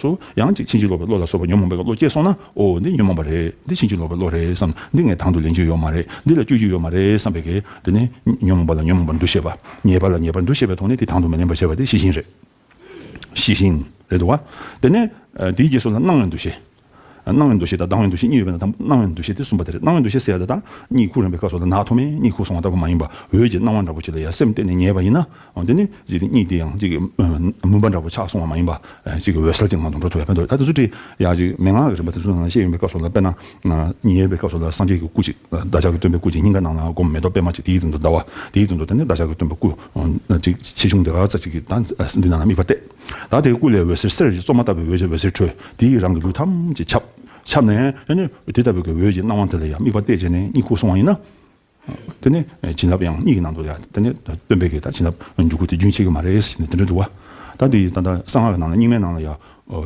སོ། ཡང་ཅིག་ཕྱིན་ཅི་ལོག་པའི་བློ་ལ་སོགས་པ་ཉོན་མོངས་པའི་བློ་སྐྱེས་སོང་ན། འོ། འདི་ཉོན་མོངས་པ་རེད། འདི་ཕྱིན་ཅི་ལོག་པའི་བློ་རེད་བསམ། འདི་ངས་དང་དུ་ལེན་རྒྱུ་ཡོད་མ་རེད། འདི་ལ་སྤྱོད་རྒྱུ་ཡོད་མ་རེད་བསམ་པས་འགལ། འདི་ནི། ཉོན་མོངས་པ་ལ་ཉོན་མོངས་པར་འདུ་ཤེས་པ། ཉེས་པ་ལ་ཉེས་པར་འདུ་ཤེས་པའི་ཐོག་ནས་དེ་དང་དུ་མི་ལེན་པར་བྱེད་པ་དེ་ཤེས་བཞིན་རེད། ཤེས་བཞིན། རེད་འདུག་བ། དེ་ནས། དེའི་རྗེས་སུ་ལ་སྣང་བའི་འདུ་ཤེས། སྣང་བའི་འདུ་ཤེས་དང་སྡང་བའི་འདུ་ཤེས་གཉིས་ཡོད་པའི་ནང་དང་པོ་སྣང་བའི་འདུ་ཤེས་དེ་གསུམ་པ་དེ་རེད་སྣང་བའི་འདུ་ཤེས་ཟེར་ཡ་ད་ད། གཉིད་ཁུག་རན་པའི་སྐབས་སུ་ལ་ནག་མཐོ་དམན་གཉིད་ཁུག་སོང་བ་ལྟ་བུ་མ་ཡིན་པ། འོད་ཀྱི་སྣང་བ་འདྲ་པོ་ཅིག་ལ་ཡ་སེམས་གཏད་ནས་ཉལ་བ་ཡིན་ན། འོན་ཏེ་ནི་འཇིག་རྟེན་གཉིས་དེ་ཡང་གཅིག་གི་མུན་པ་འདྲ་བོ་ཆགས་སོང་བ་མ་ཡིན་པར། གཅིག་གི་འོད་གསལ་གྱི་ངང་དུ་འགྲོ་ཐུབ་པའི་དོན་དུ་ད་དེ་ཚོ་དྲི་ཡ་གཅིག་མན་ངག་གི་རིམ་པ་དེ་ཚོ་ནང་བཤད་ཡོད་པའི་སྐབས་སུ་ལ་དཔེར་ན། ཉིན་ཡོད་པའི་སྐབས་སུ་ལ་སངས་རྒྱས་ཀྱི་སྐུ་གཅིག་བདག་ཅག་གི་སྟོན་པའི་སྐུ་གཅིག་སྙིང་ག་ནང་ན་བསྒོམ་མེ་ཏོག་པད་མ་གཅིག་དེའི་དོན་དུ་ཟླ་བ་དེའི་དོན་དུ་ད་ནི་བདག་ཅག་གི་སྟོན་པ་སྐུ་གཅིག་ཆེ་ཆུང་དེ་ག་ས་གཅིག་གིས་ད་འདི་ནང་ན་དམིགས་པ་གཏད། ད་དེའི་སྐུ་ལས་འོད་ཟེར་གསེར་གྱི་བཙོ་མ་ལྟ་བུའི་འོད་ཀྱིས་འོད་ཟེར་འཕྲོས་དེས་རང་གི་ལུས་ཐམས་ཅད་ཁྱབ། ཁྱབ་ནས་ནི་དེ་ལྟ་བུའི་གི་འོད་ཀྱིས་སྣང་བ་དེ་ལ་ཡང་དམིགས་པ་གཏད་བྱས་ནས་གཉིད་ཁུག་སོང་བ་ཡིན་ན། དེ་ནས་བྱིན་རླབས་ཡང་གཉིས་ཀྱི་ནང་དུ་ཡ། དེ་ནས་སྟོན་པའི་གེགས་དང་བྱིན་རླབས་འཇུག་སྒོ་དེ་རྒྱུན་ཆད་ཀྱི་མ་རེད་ཟེར་ནས་དེ་འདྲ་འདུག་བ། ད་འདི་ད་ལྟ་གསང་སྔགས་ཀྱི་ནང་ལ་རྙིང་མའི་ནང་ལ་ཡ།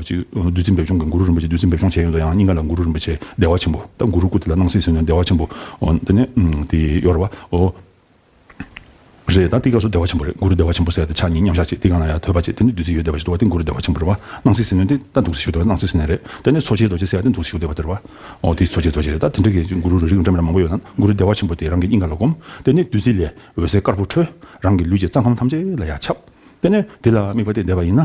ཅིག་བདུད་རྩི་འབེབས་སྦྱོང་གི་གུ་རུ་རིན་པོ་ཆེ་བདུད་རྩི་འབེབས་སྦྱོང་བྱས་ཡོད་འདུག་ཡང་སྙིང་ག་ལ་གུ་རུ་རིན་པོ་ཆེ་བདེ་བ་ཆེན་པོ་ད་གུ་རུ་སྐུ་དེ་ལ་སྣང་སྲིད་ཟེར་ནས་བདེ་བ་ཆེན་པོ། དེ་ནས་དེ་ཡོར་བ། རེད་ད་ཏི་སྐབས་སུ་བདེ་བ་ཆེན་པོ་རེད་གུ་རུ་བདེ་བ་ཆེན་པོ་ཟེར་ཏེ་ཕྱག་གཉིས་མཉམ་བཞག་ཅིག་ཏི་གང་ན་ཡང་དོད་པ་ཅིག་དེ་ནི་བདུད་རྩི་ཡོད་བདེ་བ་ཞིག་འདུག་བ་ཏི་གུ་རུ་བདེ་བ་ཆེན་པོ་རེད་བ་སྣང་སྲིད་ཟིལ་གནོན་ཏི་ད་འདུག་རྩི་ཞིག་འདུག་བ་སྣང་སྲིད་ཟིལ་གནན་རེད་དེ་ནི་འཚོ་བྱེད་རྡོ་རྗེ་ཟེར་བ་ཏི་འདུག་རྩི་ཞིག་འདུག་བ་དེར་བ་འོ་དེ་འཚོ་བྱེད་རྡོ་རྗེ་རེད་ད་དེ་འདྲ་གི་གུ་རུ་རུ་རིགས་འདྲ་མི་ར་མང་པོ་ཡོད་ན་གུ་རུ་བདེ་བ་ཆེན་པོ་དེ་རང་གི་སྙིང་ག་ལ་བསྒོམ་དེ་ནི་བདུད་རྩི་ལས་འོད་ཟེར་དཀར་པོ་འཕྲོས་རང་གི་ལུས་ཀྱི་རྩ་ཁམས་ཐམས་ཅད་ལ་ཡར་ཁྱབ་དེ་ནས་དེ་ལ་དམིགས་པ་སྟེ་བཟླས་པ་ཡིན་ན།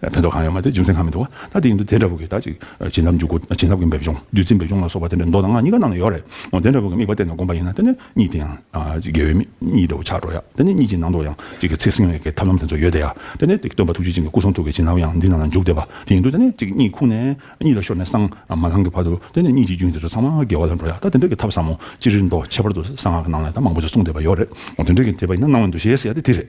ཕན་ཐོགས་གང་ཡང་མ་སྟེ་རྒྱུ་མཚན་གང་མི་འདུག་ག་ད་དེ་ཡིན་དུ་དེ་འདྲ་བུ་གིས་ད་ཅིག་བྱིན་རླབས་འཇུག་སྒོ་བྱིན་རླབས་ཀྱི་འབེབས་སྦྱོང་བདུད་རྩི་འབེབས་སྦྱོང་ལ་སོགས་པ་དེ་འདྲ་མདོ་དང་སྔགས་གཉིས་ཀ་ནང་ལ་ཡོད་རེད་འོ་དེ་འདྲ་བུ་གི་དམིགས་པ་བསྟན་ནས་བསྒོམ་པ་ཡིན་ན་དེ་ནི་གཉིས་དེ་ཡང་དགེ་བའི་གཉིས་འདྲ་བུ་ཆགས་འགྲོ་ཡ་དེ་ནི་གཉིས་ཀྱི་ནང་དུ་ཡང་གཅིག་གི་ཚེ་སྲིང་བའི་གེ་ཐབས་ལམ་དེ་ཚོ་ཡོད་དེ་ཡ་དེ་ནི་སྟོན་པ་ཐུགས་རྗེ་ཅན་གྱི་སྐུ་གསུང་ཐུགས་ཀྱི་བྱིན་རླབས་ཡང་འདི་ནང་ལ་འཇུག་བདེ་བ་དེ་ཡིན་དུ་དེ་ནི་གཅིག་གཉིས་ཁུག་ནས་གཉིས་ལ་ཤོར་ནས་སང་མ་ལྷང་གི་བར་དུ་དེ་ནི་གཉིས་ཀྱི་རྒྱུན་དེ་ཚོ་ཚང་མ་འགལ་བ་ལ་འགྲོ་ཡ་ད་དེ་འདྲ་གི་ཐབས་ཟབ་མོ་ཅི་རིགས་མདོ་ཁྱད་པར་དུ་གསང་སྔགས་ནང་ལ་ད་མང་པོ་ཅིག་གསུངས་བསྡད་པ་ཡོད་རེད་འོ་དེ་འདྲ་གི་དེ་བ་ཡིན་ན་སྣང་བའི་འདུ་ཤེས་ཟེར་ཡ་དེ་དེ་རེད།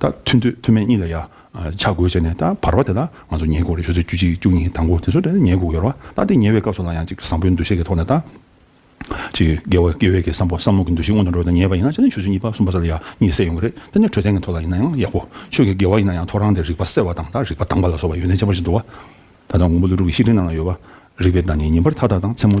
ད་མཐུན་འདོད་མཐུན་མེད་གཉིས་ལ་ཡ། ཆ་བགོས་བྱས་ནས་ད་བར་བ་དེ་ལ་ང་ཚོ་ཉལ་གོ་རེ་ཞོ་ཚོད་བཅུ་གཅིག་བཅུ་གཉིས་དང་པོ་དེ་ཚོ་ཉལ་གོ་ཡོར་བ་ད་དེ་ཉལ་བའི་སྐབས་སུ་ལ་ཡང་ཅིག་བཟང་པོའི་འདུ་ཤེས་ཀྱི་ཐོག་ནས་ད། ཅིག་དགེ་བ་དགེ་བས་ཀྱི་བསམ་པ་བསམ་བློ་གྱི་འདུ་ཤེས་སྔོན་དུ་འགྲོ་ད་ཉལ་བ་ཡིན་ན་ཅི་ནས་ཆུ་ཚོད་གཉིས་པ་གསུམ་པ་སོགས་ལ་ཡ་གཉིས་བསྲེས་ཡོང་གི་རེད་དེ་ནས་འཕྲོད་བསྟེན་གྱི་ཐོག་ལ་ཡིན་ན་ཡང་ཡག་པོ་ཆོས་ཀྱི་དགེ་བ་ཡིན་ན་ཡང་ཐོ་རངས་ཏེ་རིག་པ་གསལ་བ་དང་ད་རིག་པ་དྭངས་པ་ལ་སོགས་པ་ཡོན་ཏན་ཆེན་པོ་ཞིག་འདུ་བ། ད་དང་དགོང་པོ་ལུས་དྲུག་གི་ཤིག་རིང་ནང་ལ་ཡོད་པ། རིག་པའི་བདག་ཉིད་ཉིན་པར་ཐག་ཐག་དང་མཚན་མོ།